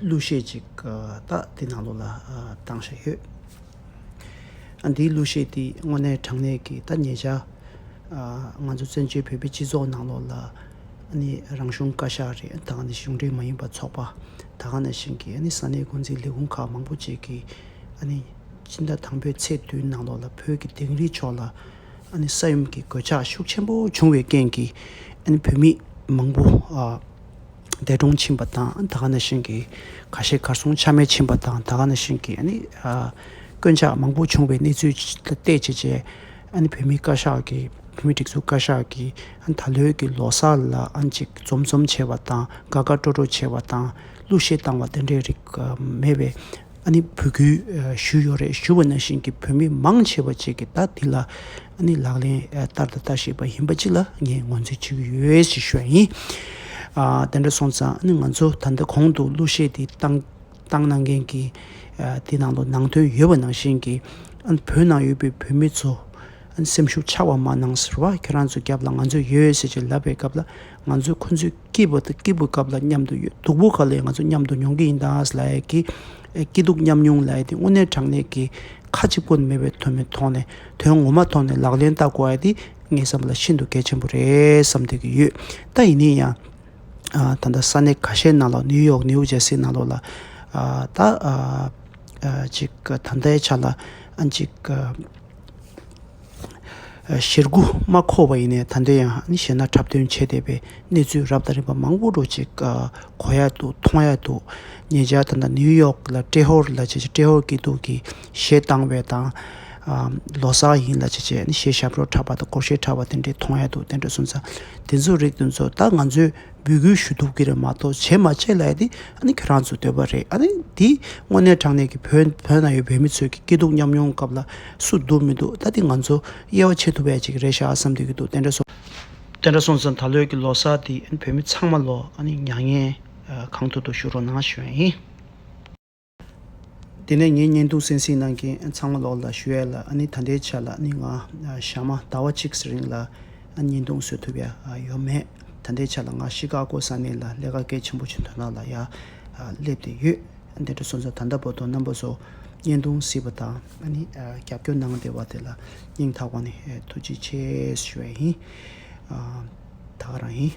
གླུ་གཞས་ཅིག་དག་འདི་ནང་ལོགས་ལ་བཏང་བཞིན་ཡོད། འདིའི་གླུ་གཞས་འདིས་དངོས་གནས་དྲང་གནས་ཀྱི་ཐ་སྙད་བྱ། ང་ཚོ་བཙན་བྱོལ་བོད་པའི་སྤྱི་ཚོགས་ནང་ལོགས་ལ་ནི་རང་གཞུང་བཀའ་ཤག་རེད་དང་ནི་གཞུང་འབྲེལ་མ་ཡིན་པ་ཚོགས་པ་དག་ནས་བཞིན་གྱི་ས་གནས་འགོ་འཛིན་ལས་ཁུངས་ཁག་མང་པོ་བཅས་ཀྱིས་སྤྱི་ཟླ་དང་པོའི་ཚེས་བདུན་ནང་ལོགས་ལ་བོད་ཀྱི་དིང་རིའི་ཕྱོགས་ལ་ས་ཡོམ་གྱི་གོད་ཆག་ཤུགས་ཆེན་པོ་བྱུང་བའི་རྐྱེན་གྱིས་བོད་མི་མང་པོ། འདས་གྲོངས་ཕྱིན་པ་དང་ད་ག་ན་ཞིང་གི་ཁ་ཤས་གར་སོང་ཆ་མེད་ཕྱིན་པ་དང་ད་ག་ན་ཞིང་གི་དཀོན་ཆག་མང་པོ་བྱུང་བའི་གནས་ཚུལ་བལྟས་བྱས་རྗེས་བོད་མི་བཀའ་ཤག་གི་བོད་མི་སྒྲིག་འཛུགས་བཀའ་ཤག་གིས་ད་ལོའི་གི་ལོ་སར་ལ་ཅིག་འཛོམས་འཛོམས་བྱས་བ་དང་དགའ་དགའ་སྤྲོ་སྤྲོ་བྱས་བ་དང་གླུ་གཞས་བཏང་བ་དེ་འདྲའི་རིགས་མེད་པའི་འབོད་སྐུལ་ཞུས་ཡོད་རེད་ཞུས་བ་ན་ཞིང་གི་བོད་མི་མང་ཆེ་བ་བཅས་ཀྱིས་ད་དེ་ལ་ཨ་ནི་ལག་ལེན་བསྟར་དང་ལྟ་ཤེས་པ་ཡིན་པ་གཅིག་ལ་ངས་ངོས་འཛིན་བྱེད་ཀྱི་ཡོད་ཞེས་ཤོད་ཡིན། དེ་འདྲ་སོང་ཙང་ཨ་ནི་ང་ཚོ་ད་ལྟ་གོང་དུ་གླུ་གཞས་དེ་བཏང་གནང་མཁན་གྱི་དེ་ནང་དུ་ནང་དོན་ཡོད་པ་ནང་བཞིན་གྱི་ཨ་ནི་བོད་ནང་ཡོད་པའི་བོད་མི་ཚོ་ཨ་ནི་སེམས་ཤུགས་ཆག་པ་མ་གནང་ཟེར་བ་ཁྱེད་རང་ཚོའི་རྒྱབ་ལ་ང་ཚོ་ཡོད་ཟེར་གྱི་ལབ་པའི་སྐབས་ལ་ང་ཚོ་ཁོ་ཚོའི་སྐྱིད་པོ་དང་སྐྱིད་པོའི་སྐབས་ལ་མཉམ་དུ་ཡོད་སྡུག་པོ་ག་ལས་ང་ཚོ་མཉམ་དུ་མྱོང་གི་ཡིན་ད་ཨ་ལས་ཀྱི་སྐྱིད་སྡུག་མཉམ་མྱོང་ལས་དེ་དངོས་གནས་དྲང་གནས་ཀྱི་ཁ་ཅིག་པོ་ནི་མེད་པའི་དོན་མི་མཐོང་ནས་དོན་ངོ་མ་མཐོང་ནས་ལག་ལེན་བསྟར་དགོས་ཨ་འདི་ངའི་བསམ་པ་ལ་ཤིན་ཏུ་གལ་ཆེན་པོ་རེད་བསམ་སྡོད་ཀྱི་ཡོད་ད་ཡིན་ནའི་ཡང། ད་ལྟ་ས་གནས་ཁ་ཤས་ནང་ལོགས་ནིའུ་ཡོག་ནིའུ་ཇེར་སི་ནང་ལོགས་ལ་ད་ཅིག་ད་ལྟའི་ཆ་ལ་ཨ་ཅིག། གཞིར་རྒུ་མ་འཁོར་བ་ཡིན་ནས་ད་འདི་ཡང་ནི་བཤད་ན་འཁྲབ་སྟོན་བྱས་བསྡད་པའི་གནས་ཚུལ་རབ་དང་རིམ་པ་མང་པོ་འགྲོ་ཅིག་གོ་ཡག་འདུག་མཐོང་ཡག་འདུག་ངེད་ཅག་ད་ལྟ་ནིའུ་ཡོག་ལ་ཏྲེ་ཧོར་ལ་བྱས་བྱས་ཏྲེ་ཧོར་སྐྱིད་སྡུག་གི་གཞས་བཏང་བའི་དང། ལོ་སར་ཡིན་ལ་བྱས་བྱས་ནི་གཞས་ཞབས་བྲོ་འཁྲབ་པ་དང་སྐོར་གཞས་འཁྲབ་པ་དེ་འདྲས་མཐོང་ཡག་འདུག་དེ་འདྲས་སོང་ཙང་དེ་ཚོ་རིགས་དེ་ཚོ་ད་ང་ཚོའི་འབོད་སྐུལ་ཞུ་གཏུག་གི་རེད་མ་གཏོགས་བྱེད་མ་བྱེད་ལ་ཡ་དེ་ཨ་ནི་ཁྱོད་རང་ཚོའི་འདོད་པ་རེད་ཨ་ནི་དེ་དངོས་གནས་དྲང་གནས་ཀྱི་བོད་བོད་ན་ཡོད་བོད་མི་ཚོས་ཀྱི་སྐྱིད་སྡུག་མཉམ་མྱོང་སྐབས་ལ་སུ་སྡུག་མི་སྡུག་ད་དེ་ང་ཚོ་དབྱེ་བ་ཕྱེ་ཐུབ་བས་ཅིག་རེད་ཤག་བསམ་སྡོད་ཀྱི་འདུག་དེ་འདྲ་སོང། དེ་འདྲ་སོང་ཙང་ད་ལོའི་ཀྱི་ལོ་སར་དེ་ཨ་ནི་བོད་མི་ཚང་མ་ལོ་ཨ་ནི་མྱ་ངན་གང་ཐུག་ཐུག་ཞུ་རོགས་གནང་ཞུ་ཡིན། དེ་ནས་ངས་བརྙན་ཐུང་སེང་སེང་ནང་གི་ཚང་མ་ལོག་ལ་ཞུ་ཡས་ལ་ཨ་ནི་ད་འདྲའི་ཆ་ལ་ནི་ང་ཞག་མ་ཟླ་བ་གཅིག་གི་རིང་ལ་བརྙན་ཐུང་བཟོས་ཐུབ་ཡ་ཡོད་མེད་ད་འདྲའི་ཆ་ལ་ང་ཤི་ཀ་ཀོ་ས་གནས་ལ་ལས་ཀ་གལ་ཆེན་པོ་ཆེ་དོན་དག་ལ་ཡ་སླེབས་ཏེ་ཡོད་དེ་འདྲ་སོང་ཙང་ད་ལྟ་བོ་དོང་ནམ་པོ་བཟོ་བརྙན་ཐུང་བཟི་བ་དང་ཨ་ནི་རྒྱབ་སྐྱོར་གནང་བདེ་བ་དེ་ལ་སྙིང་ཐག་པ་ནས་ཐུགས་རྗེ་ཆེ་ཞུ་ཡས་ཡིན་ད་ག་རང་ཡིན།